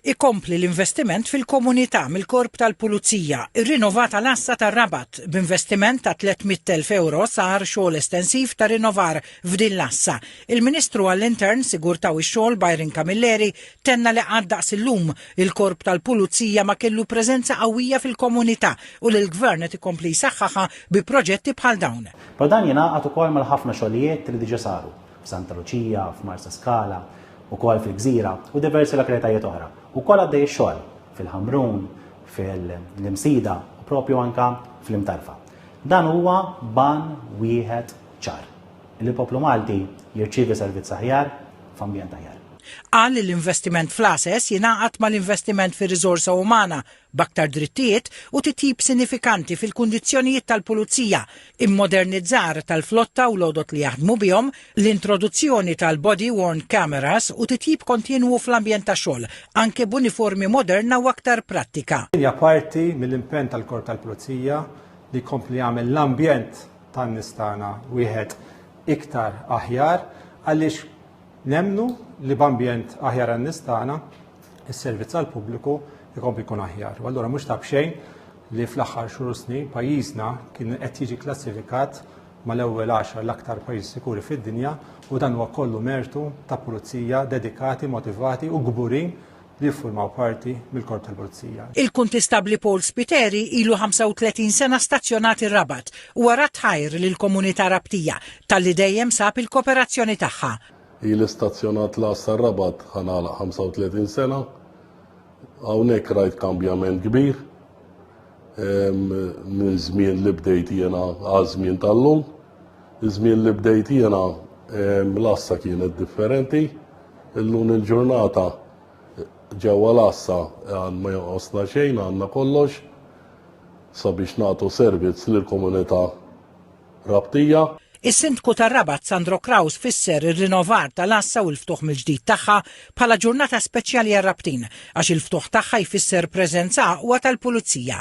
Ikompli l-investiment fil-komunità mill-Korp tal-Pulizija, irrinovat għal għassa tar-Rabat, b'investiment ta' 300,000 ewro sar xogħol estensiv ta' rinnovar f'din l-għassa. Il-Ministru għall-Intern, Sigurtà u x-Xogħol Byron Camilleri tenna li qatt daqs illum, il-Korp tal-Pulizija ma kellu preżenza qawwija fil-komunità u li l-Gvern qed ikompli jsaħħaħha bi proġetti bħal dawn. Però dan jingħaqad ukoll mal-ħafna xogħlijiet li diġà saru. f'Santa Luċija, f'Marsaskala, ukoll fil-Gżira u diversi lokalitajiet oħra. Ukoll għaddej ix-xogħol fil-Ħamrun, fil-Imsida u propju anka fl-Imtarfa. Dan huwa ban wieħed ċar li l-poplu Malti jirċievi servizz aħjar f'ambjent aħjar. Qal li l-investiment fl-ASES jingħaqad mal-investiment fir-riżorsa umana b'aktar drittijiet u titjib sinifikanti fil-kundizzjonijiet tal-pulizija, immodernizzar tal-flotta u l-għodod li jaħdmu bihom, l-introduzzjoni tal-body worn cameras u titjib kontinwu fl-ambjent tax-xogħol, anke b'uniformi moderna u aktar prattika. Din hija parti mill-impenn tal-Korp tal-Pulizija li jkompli jagħmel l-ambjent tan-nies tagħna wieħed iktar aħjar għaliex nemmnu li b'ambjent aħjar għan-nies tagħna is-servizz għal pubbliku jkompli jkun aħjar. U allura mhux ta' bxejn li fl-aħħar xhur u snin pajjiżna kien qed jiġi klassifikat mal-ewwel 10 l-aktar pajjiż sikuri fid-dinja u dan huwa kollu mertu ta' pulizija dedikati, motivati u kburin li jiffurmaw parti mill-korp tal-pulizija. Il-Kuntistabbli Paul Spiteri ilu 35 sena stazzjonat ir-Rabat u wara tħajr lill-komunità Rabtija talli dejjem sab il-koperazzjoni tagħha. Ili stazzjonat l-għassa r-Rabat ħa nagħlaq 35 sena. Hawnhekk rajt kambjament kbir minn żmien li bdejt jiena għal żmien tal-lum. Iż-żmien li bdejt jiena l-għassa kienet differenti. Illum il-ġurnata ġewwa l-għassa għan ma jonqosna xejn għandna kollox sabiex nagħtu servizz lill-komunità Rabtija. Is-Sindku tar-Rabat Sandro Craus fisser ir-rinovar tal-għassa u l-ftuħ mill-ġdid tagħha bħala ġurnata speċjali għar-Rabtin għax il-ftuħ tagħha jfisser preżenza aqwa tal-Pulizija.